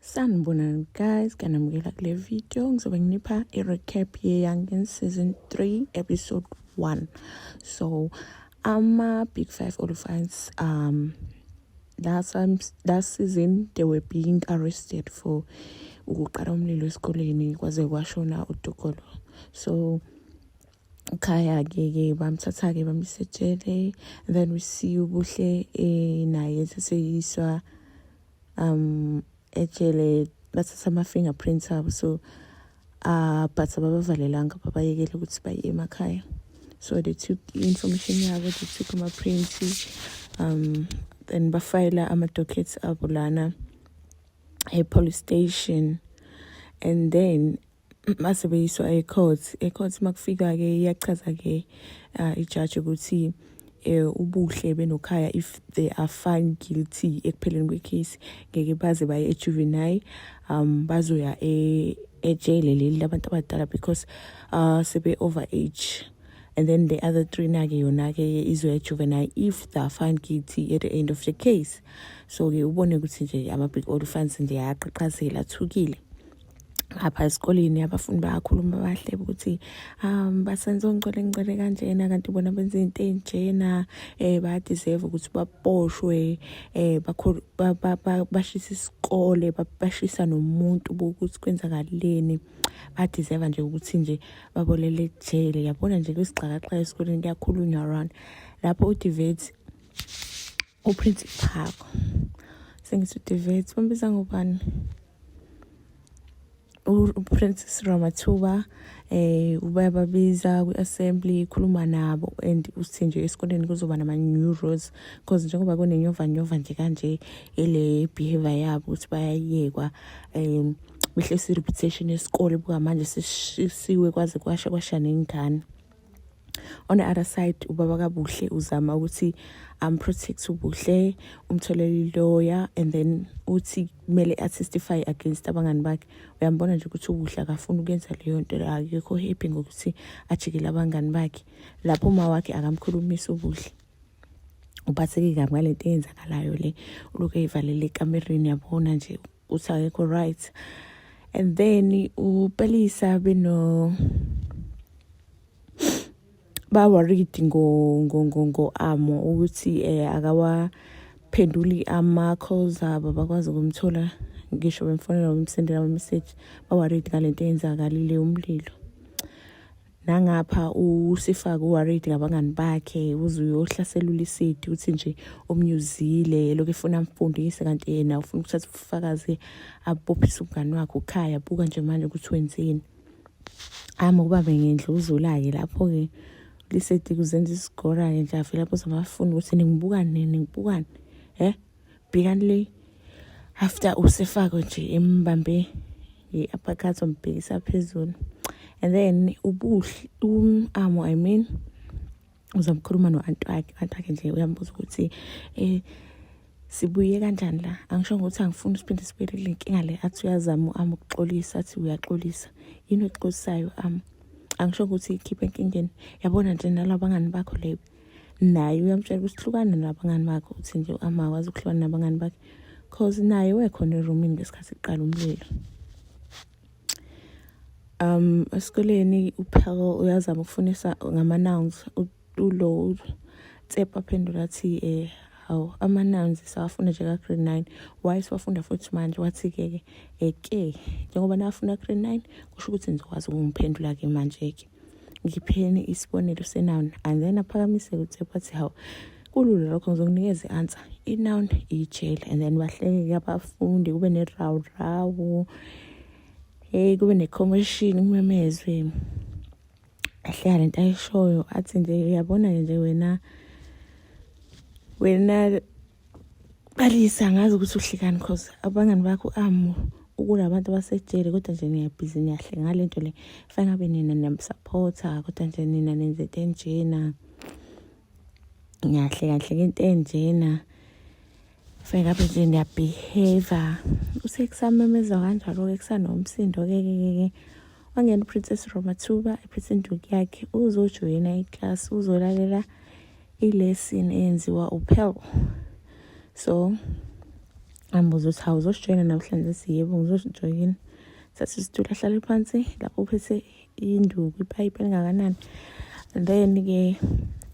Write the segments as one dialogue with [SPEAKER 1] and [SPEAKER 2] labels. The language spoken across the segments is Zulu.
[SPEAKER 1] Sanibonani guys, kanamukela kule video ngizobe nginipha i-recap ye-Youngin season 3 episode 1. So ama-big five olifans um last, last season they were being arrested for ukuqala umlilo esikoleni kwaze kwashona udokolo. So khaya ke ke bamthatha ke bamsetshele then we see ubuhle eh naye seseyiswa um ejele bathatha ama-fingerprints abo so uh, but ababavalelanga babayekele ukuthi baye emakhaya so they took i-information yabo they took ama-prints um then bafayela ama-dockets abo lana e-police station and then mase beyiswa ecourt ecourt makufika-ke iyachaza-ke uh, ijaji ukuthi eh ubuhle benokhaya if they are found guilty ekupheleni kwecase ngeke baze baye ejuvenile um bazoya e ejele leli labantu abadala because uh sebe over age and then the other three nake yona ke izoya ejuvenile if they are found guilty at the end of the case so ke ubone ukuthi nje ama big old fans nje ayaqhaqhazela thukile apha esikoleni abafundi bayakhuluma bahle ukuthi um basenze ongicele ngicele kanjena kanti bona benza into enjena eh bayadeserve ukuthi baboshwe eh bashisa isikole bashisa nomuntu bokuthi kwenzakaleni badeserve nje ukuthi nje babolele ejele yabona nje kwisigxakaxhaka esikoleni kuyakhulunywa around lapho udivet Uprince Phako sengithi uDivet bambiza ngobani uPrincess Ramathuba eh ubayababiza kwi-assembly ikhuluma nabo and uthi nje esikoleni kuzoba nama-new rules because njengoba kunenyovanyova nje kanje ile behavior yabo ukuthi bayayekwa um mihle si-reputation yesikole bukamanje sishisiwe kwaze kwasha kwasha nengane on the other side ubaba kabuhle uzama ukuthi am protect ubuhle umtholele lawyer and then uthi kumele attestify against abangani bakhe uyambona nje ukuthi ubuhle akafuni ukwenza leyo nto akekho happy ngokuthi ajikele abangani bakhe lapho uma wakhe akamkhulumisi ubuhle uphatheke kabi ngale nto eyenzakalayo le ulokhu eyivalele ekamereni yabona nje ukuthi akekho right and then upelisa beno baworried ngo ngo ngo ngo amo ukuthi eh akawaphenduli ama calls abo bakwazi ukumthola ngisho bemfonela umsendela ama message baworried ngalento eyenzakalile umlilo nangapha usifake uworried ngabangani bakhe uze uyohlasela ulisidi uthi nje omnyuzile lokho efuna amfundise kanti yena ufuna ukuthatha ubufakazi abophisa umngani wakhe ukhaya buka nje manje ukuthi wenzeni ama ukuba bengendla uzula-ke lapho-ke lisidi kuzenza isigora-ke nje avele lapho zamafuna ukuthi ningibukani ningibukani um bhekani le after usefako nje embambe i-uppercut ombhekisa phezulu and then ubuhle um-amo i mean uzomkhuluma no-anti wakhe u-anti wakhe nje uyambuza ukuthi um sibuye kanjani la angisho ngokuthi angifuni siphinde sibuyele kule nkinga le athi uyazama u-am ukuxolisa athi uyaxolisa yini oxolisayo u-am angisho ukuthi ikhiphe enkingeni yabona nje nalabangani bakho leyo naye uyamtshela ukuthi hlukana nabangani bakhe uthi nje amakwazi ukuhlukana nabangani bakhe cause naye wekhona erumini ngesikhathi kuqala umlilo um esikoleni uphako uyazama ukufunisa ngama-nouns ulo tsepa aphendula athi um eh, hawu ama-nouns sawafunda nje ka-grade nine why siwafunda futhi manje wathi-ke ke eke eh, njengoba nafunda grade nine kusho ukuthi nizokwazi ukumphendula-ke manje-ke ngipheni isibonelo senoun and then aphakamise ukuthi bathi hawu kulula lokho ngizokunikeza i-answer inoun ijele and then bahleke abafundi kube nerawurawu hey kube ne-commotion kumemezwe ahleka le nto ayishoyo athi nje uyabona-ke nje wena wena Balisa angazi ukuthi uhlekani cause abangani bakho amu ukula abantu basejele kodwa nje niyabhizi niyahle ngale nto le fanele abe nina niyamsapotha kodwa nje nina nenze into enjena ngiyahle kahle ke into enjena fanele abe nje niyabehave usekusamemeza kanjalo-ke kusanomsindo-ke ke ke ke wangena uprincess romathuba ephethe induku yakhe uzojoyina iklasi uzolalela ilesson eyenziwa uphel so ambuza ukuthi hawu uzosijoyina namhlanje siyebo ngizosijoyina sathi isitulo ahlale phansi lapho uphethe induku ipayipi elingakanani then-ke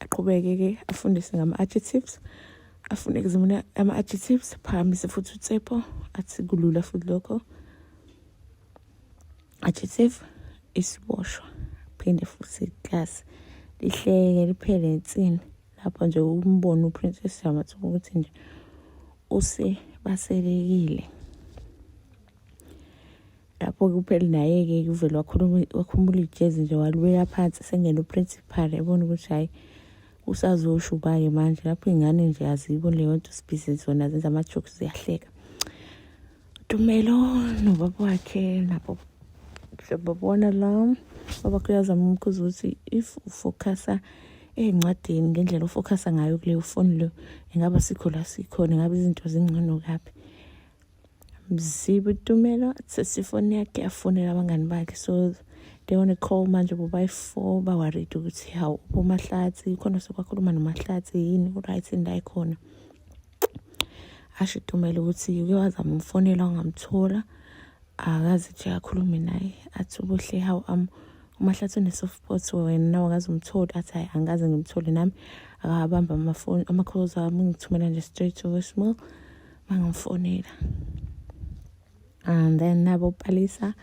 [SPEAKER 1] aqhubeke-ke afundise ngama-adjectives afune kuzimona ama-adjectives phakamise futhi utsepo athi kulula futhi lokho Adjective isiboshwa phinde futhi iklasi lihleke liphele insini lapho nje umbona uprincess yamathuba ukuthi nje use baselekile lapho-ke upheli naye-ke kuvele wakhumula ijezi nje walibeka phansi sengena uprincipal ebona ukuthi hhayi usazosho uba-ke manje lapho iy'ngane nje azibo leyo nto sibhizi zona zenza ama-jokes ziyahleka Tumelo nobaba wakhe nabo babona la baba kuyazama umkhuza ukuthi if ufocusa ezincwadini ngendlela ofocusa ngayo kuleyo foni leyo ingaba sikho la sikhona ingabe izinto zingcono kabi mzibe utumelo sesifoni yakhe yafonela abangani bakhe so they want to call manje bobayi-four bawaride ukuthi hawu umahlathi khona sekwakhuluma nomahlathi yini uright indayi khona asho itumela ukuthi uke wazama umfonela ungamthola akazi nje akhulume naye athi ubuhle how am umahlathi une-soft pot wena nawe akaze umtholi athi hhayi angikaze ngimthole nami akabamba amafoni amakhozi ami ngithumela nje straight to voicemail mangamfonela and then nabo palisa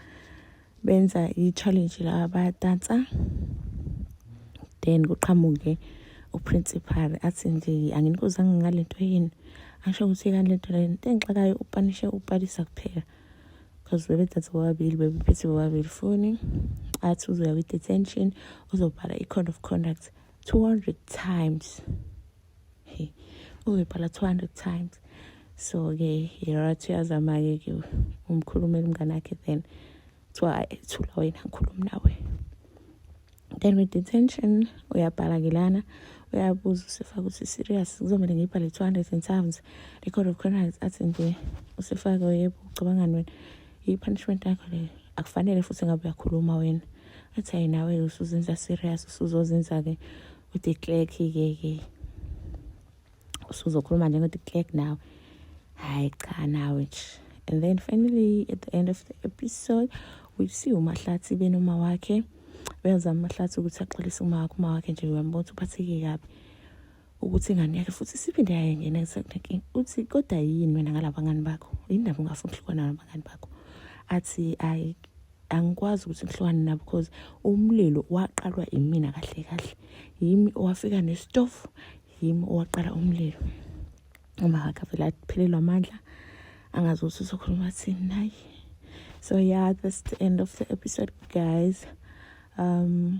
[SPEAKER 1] benza i-challenge la bayadansa then kuqhamuke uprincipal athi nje anginikuzanga ngale nto yini asho ukuthi kani lento le nto engixakayo upanishe upalisa kuphela because bebedanse bobabili bebephethe bobabili foni athi uzoya kwi-detention uzobhala i-code of conduct 200 times uzobhala 200 times so-ke yerathi uyazama-ke ke umkhulumela umngane akhe then kuthiwa thula wena ngikhulumi nawe then with detention uyabhala ke lana uyabuza usefaka ukuthi serious kuzomele ngiyibhale 200 and times record of criminals athi nje usefake yebo ucabangani wena i-punishment yakho le akufanele futhi ngabe uyakhuluma wena athi hayi nawe usuzenza serious usuzozenza-ke ude clerk ke ke usuzokhuluma njengo de clerk nawe hayi cha nawe nje and then finally at the end of the episode we see umahlathi benoma wakhe uyazama umahlathi ukuthi axolise uma wakhe uma wakhe nje uyambona ukuthi uphatheke kabi ukuthi ingane yakhe futhi siphinde yayengena kusekunenkinga uthi kodwa yini wena ngalabangani bakho yini ndaba ungafuni ukuhlukana nabangani bakho athi ayi angikwazi ukuthi ngihlukane nabo because umlilo waqalwa imina kahle kahle yimi owafika nesitofu yimi owaqala umlilo uma akavele aphelelwa amandla angazi ukuthi uzokhuluma thini naye so yeah that's the end of the episode guys um